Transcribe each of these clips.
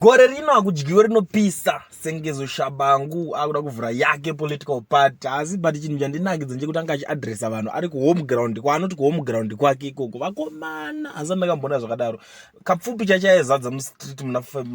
gore rino akudyiwe rinopisa sengezo shabangu akuda kuvhura yake political party asi but chinhu chandinakidza ndechekuti anga achiadressa vanhu ari kuhome ground kwaanoti kuhome ground kwake ikoko vakomana asi andakamboona zvakadaro kapfupi chachaezadza mustreet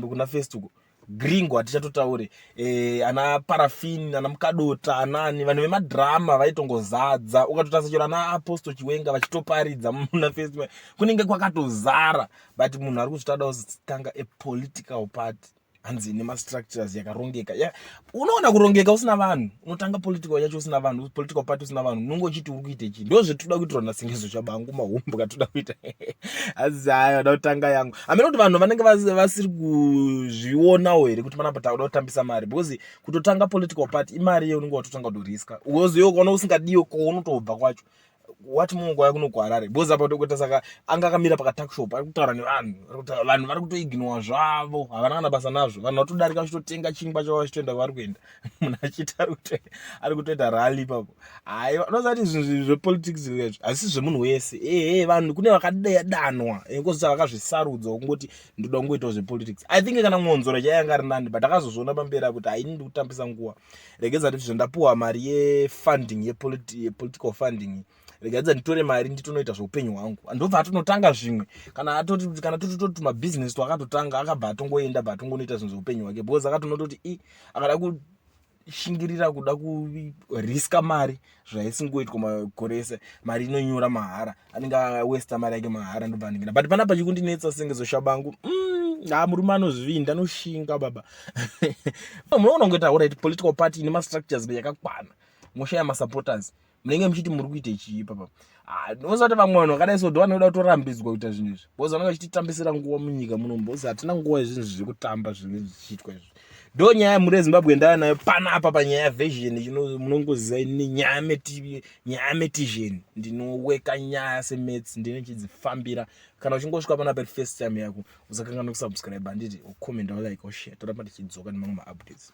kuna fest uko gringo hatichatotaure e, ana parafin ana mukadota anani vanhu vemadhirama vaitongozadza ukatotasachero ana aposto chiwenga vachitoparidza muna festival kunenge kwakatozara but munhu ari kuzvitauda kuzotanga a political party hanzi ine mastructures yakarongeka ya unoona kurongeka usina vanhu unotanga political yacho usina vanhu political party usina vanhu unonge uchiti uri kuita chii ndo zvetoda kuitirwa nasingizo chabangu mahombo katoda kuita hanzi hayi vada kutanga yangu amene kuti vanhu vanenge vasiri kuzvionawo here kuti panapa takuda kutambisa mari because kutotanga political party imari ye unenge watotanga kutoriska uoziwo ukaona usingadiwo kounotobva kwacho what more nguva yakuno kuharare because apa tokuita saka anga akamira pakatuckshop ari kutaura nevanhu vanhu vari kutoignowa zvavo havana kana basa nazvo vanhu vatodarika vachitotenga chingwa chavo vachitoenda kwavari kuenda munhu achiita ari kutoita rally ipapo hai unozati zvinhu zvepolitics izvi hazvisi zvemunhu wese ehe vanhu kune vakadanwa kozosa vakazvisarudza kungoti ndoda kungoitawo zvepolitics i think kana mwonzora chaianga ari nani but akazozviona pamberi akuti haini ndikutambisa nguva regedza ndizvo ndapuwa mari yefunding yepolitical funding regadza nditore mari nditonoita zveupenyu hwangu andobva atonotanga zvimwe kana atoti kana toti toti mabusiness to akatotanga akabva atongoenda bva atongonoita zvinhu zveupenyu hwake because akatonototi i akada kushingirira kuda kuriska mari zvaisingoitwa makore ese mari inonyura mahara anenge awesta mari yake mahara ndobva ndingina but panapa chikundinetsa senge zoshabangu mm, ha ah, murume anozvinda anoshinga baba munoona kunge taura iti political party ine mastructures yakakwana moshaya masupporters munenge muchiti muri kuita chii papa Ah, ndinoziva kuti vamwe vanhu vakadai so ndovanoda kutorambidzwa kuita zvinhu izvi bcause vanenge vachititambisira nguva munyika muno bcause hatina nguva yezvinhu izvi zvekutamba zvinenge zvichiitwa izvi ndo nyaya yemhuri yezimbabwe ndava nayo pana apa panyaya yavesion munongoziva ini nyaya nyaya metision ndinoweka nyaya semets ndine chidzifambira kana uchingosvika pana peri first time yako usakangana kusubscribe handiti ucomment walike oshe toramba tichidzoka nemamwe maupdates